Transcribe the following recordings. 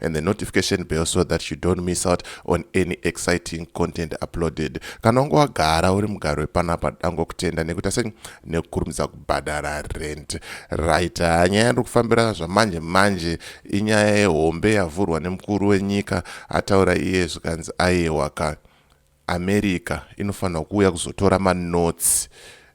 and the notification bell so that you don't miss out on any exciting content uploaded kana wange wagara uri mugari wepanapa dango kutenda nekuita sei nekukurumidza kubhadhara rent right ah, nyaya yandiri kufambira zvamanje manje inyaya yehombe yavhurwa nemukuru wenyika ataura iye zvikanzi aiewaka America inofanirwa kuuya kuzotora manotes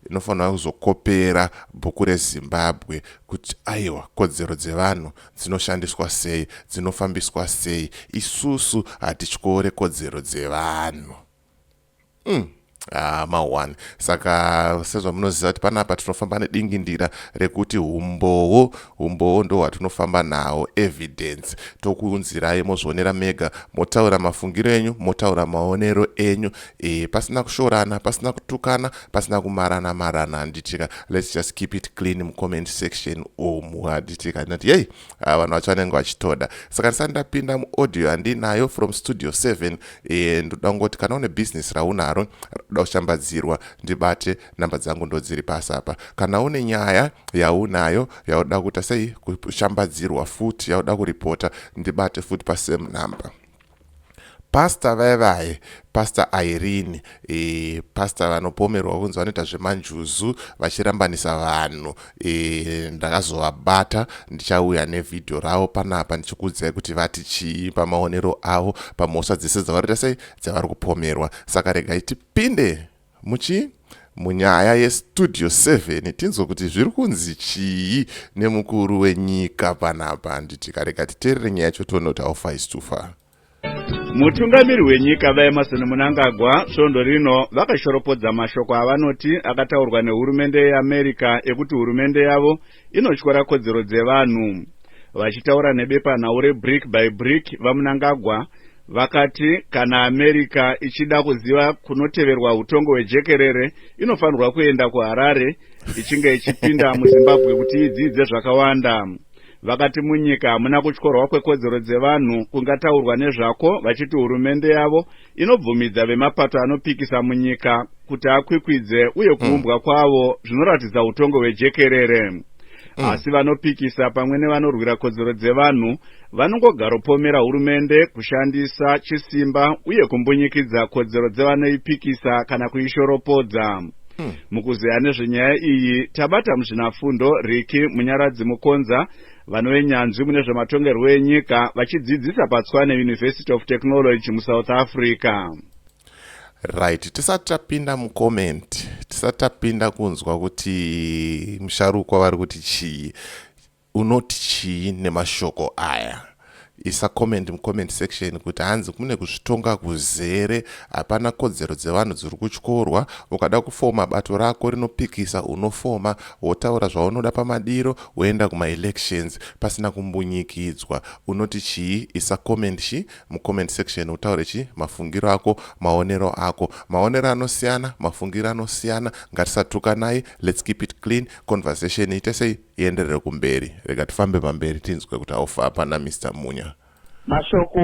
inofanirwa kuzokopera bhuku rezimbabwe kuti aiwa kodzero dzevanhu dzinoshandiswa sei dzinofambiswa sei isusu hatityore kodzero dzevanhu mm. Ah, mahwani saka sezvamunoziva kuti panapa tinofamba nedingindira rekuti umbowo Humbowo ndohwatinofamba nahwo evidence tokuunzirai mozvionera mega motaura mafungiro enyu motaura maonero enyu e, pasina kushorana pasina kutukana pasina kumarana marana handitika let's just keep it clean mucomment section umu handitika handinati yei ah, vanhu vacho vanenge vachitoda saka ndisati ndapinda muaudio handinayo from studio 7 e, ndoda kungoti kana une business raunaro roda kushambadzirwa ndibate number dzangu ndodziri pasi apa kana une nyaya yaunayo yauda kuita sei kushambadzirwa futi yauda kuripota ndibate futi pasame number pasta vaye vaye pastor irene e, pastor vanopomerwa kunzi vanoita zvemanjuzu vachirambanisa vanhu e, ndakazovabata ndichauya nevhidhiyo ravo panapa ndichikuudzai kuti vati chii pamaonero avo pamhosva dzese dzavariita sei dzavari kupomerwa saka regai tipinde Muchi munyaya yestudio 7 tinzwe kuti zviri kunzi chii nemukuru wenyika panapa handiti kareka titerere nyaya yacho tione kuti aufa is too far mutungamiri wenyika vaemarson munangagwa svondo rino vakashoropodza mashoko avanoti akataurwa nehurumende yeamerica ekuti hurumende yavo inotyora kodzero dzevanhu. Vachitaura nebepanhau reBrick by Brick, VaMnangagwa vakati kana America ichida kuziva kunoteverwa hutongo hwejekerere inofanirwa kuenda kuHarare ichinge ichipinda muZimbabwe kuti idzidze zvakawanda. Vakati munyika hamuna kutyorwa kwekodzero dzevanhu kungataurwa nezvako vachiti hurumende yavo inobvumidza vemapato anopikisa munyika kuti akwikwidze uye mm. kuumbwa mm. kwavo zvinoratidza utongo hwejekerere mm. asi vanopikisa pamwe nevanorwira kodzero dzevanhu vanongogaropomera hurumende kushandisa chisimba uye kumbunyikidza kodzero dzevanoipikisa kana kuishoropodza Hmm. mukuzeya nezvenyaya iyi tabata muzvinafundo riki munyaradzi mukonza Vanove nyanzvi mune zvematongerwo enyika vachidzidzisa paTshwane University of Technology muSouth Africa. Right, tisati tapinda mucomment, tisati tapinda kunzwa kuti musharukwa vari kuti chii, unoti chii nemashoko aya. isa comment mucomment section kuti hanzi kune kuzvitonga kuzere hapana kodzero dzevanhu dziri kutyorwa ukada kufoma bato rako rinopikisa unofoma wotaura zvaunoda pamadiro woenda kumaelections pasina kumbunyikidzwa unoti chii isa comment chi mucomment section utaure chi mafungiro ako maonero ako maonero anosiyana mafungiro anosiyana ngatisatukanai let's keep it clean conversation ite sei ienderere kumberi rega tifambe pamberi tinzwe kuti haufa pana Mister Munya. Mashoko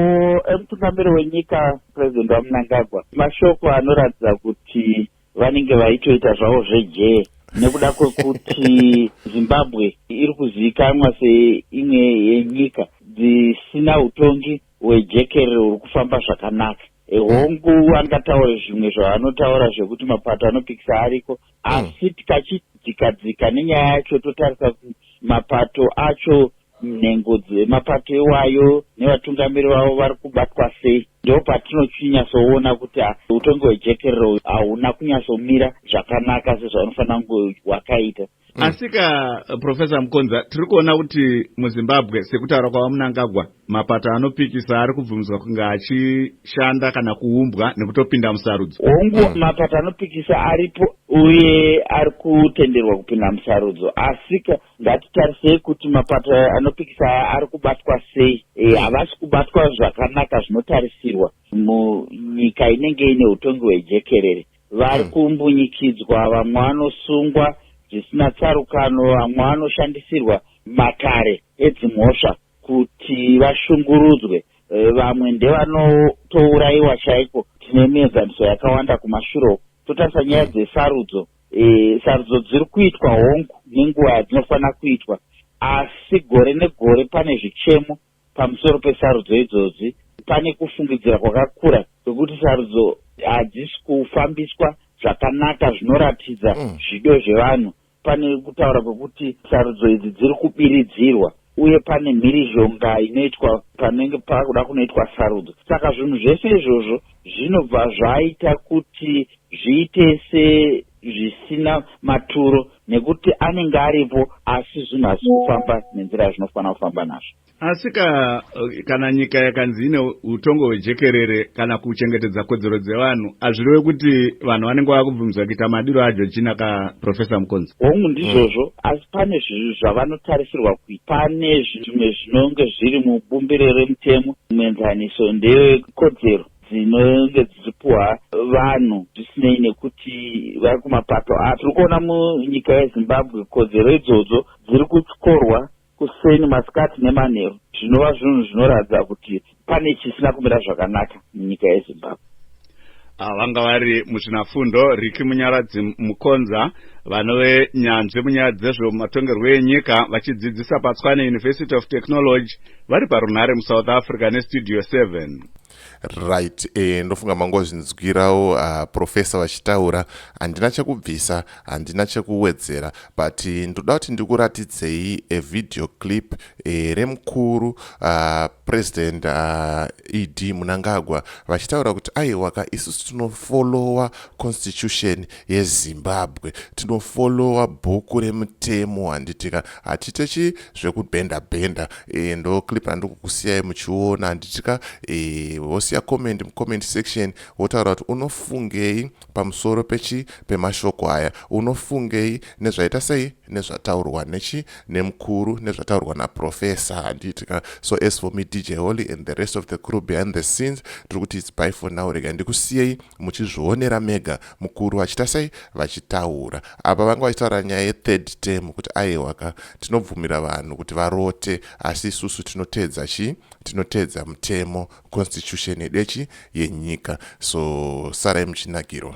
emutungamiri wenyika President VaMnangagwa mashoko anoratidza kuti vanenge vaitoita zvavo zvejee nekuda kwekuti Zimbabwe iri kuzivikanwa seimwe yenyika dzisina utongi hwejekerere huri kufamba zvakanaka. Eh, hongu angataure zvimwe zvaanotaura zvekuti mapato anopikisa ariko asi tikachidzika dzika nenyaya yacho totarisa mapato acho nhengo dzemapato iwayo nevatungamiri vavo vari kubatwa sei ndo patinochinyasoona kuti ah, utongi hwejekerero hauna kunyatsomira zvakanaka sezvaunofanira kunge wakaita mm. asika profesa mukonza tiri kuona kuti muzimbabwe sekutaura kwava munangagwa Mapato anopikisa ari kubvumidzwa kunge achishanda kana kuumbwa nekutopinda musarudzo. Hongu, mapato anopikisa aripo uye ari kutenderwa kupinda musarudzo. Asika, ngatitarisei kuti mapato aya anopikisa aya ari kubatwa sei. E, havasi kubatwa zvakanaka zvinotarisirwa munyika inenge ine utongi hwejekerere. Vari kumbunyikidzwa, vamwe vanosungwa zvisina tsarukano, vamwe vanoshandisirwa matare edzimhosva. kuti vashungurudzwe vamwe ndevanotourayiwa chaiko tine mienzaniso yakawanda kumashure uku totarisa nyaya dzesarudzo e, sarudzo dziri kuitwa hongu nenguva yadzinofanira kuitwa asi gore negore pane zvichemo pamusoro pesarudzo idzodzi pane kufungidzira kwakakura kwekuti sarudzo hadzisi kufambiswa zvakanaka zvinoratidza mm. zvido zvevanhu Pane kutaura kwekuti sarudzo idzi dziri kubiridzirwa uye pane mhirizhonga inoitwa panenge pakuda kunoitwa sarudzo. Saka zvinhu zvese izvozvo zvinobva zvaita kuti zviite sezvisina maturo nekuti anenge aripo asi zvinhu hazvisi kufamba nenzira yazvinofanira kufamba nazvo. Asi ka, kana nyika yakanzi ine utongo hwejekerere kana kuchengetedza kodzero dzevanhu hazvireve kuti vanhu vanenge vava kubvumidzwa kuita madiro ajo china ka professor mukonzi hongu ndizvozvo mm. asi pane zvinhu zvavanotarisirwa kuita pane zvimwe zvinonge zviri mubumbiro remutemo muenzaniso ndeyekodzero dzinenge dzichipuhwa vanhu zvisinei nekuti vari kumapato api tiri kuona munyika yezimbabwe kodzero idzodzo dziri kutyorwa kuseni, masikati nemanheru zvinova zvinhu zvinoratidza kuti pane chisina kumira zvakanaka munyika yeZimbabwe. Ava vanga vari muzvinafundo Ricky Munyaradzi Mukonza vanove nyanzvi munyaya dzezvematongerwo enyika vachidzidzisa paTswane University of Technology vari parunhare muSouth Africa neStudio 7. right eh, ndofunga mangozvinzwirawo uh, ah, profesa vachitaura handina chekubvisa handina chekuwedzera but eh, ndoda kuti ndikuratidzei evideo clip eh, remukuru uh, president uh, ed munangagwa vachitaura kuti aiwaka isusu tinofolowa constitution yezimbabwe tinofolowa bhuku remutemo handitika hatitechi zvekubhenda bhenda e, ndo clip handiri kukusiyai muchiona handitika e, eh, wosiya comment mucomment section wotaura kuti unofungei pamusoro pechi pemashoko aya unofungei nezvaita sei nezvataurwa nechi nemukuru nezvataurwa naprofesa handiitika so as for me dj holy and the rest of the crew behind the scenes tiri kuti its by for now rega ndikusiyei muchizvionera mega mukuru vachita sei vachitaura apa vanga vachitaura nyaya yethird term kuti aihwaka tinobvumira vanhu kuti varote asi isusu tinoteedza chii tinoteedza mutemo constitution yedu yechi yenyika so sarai muchinakirwa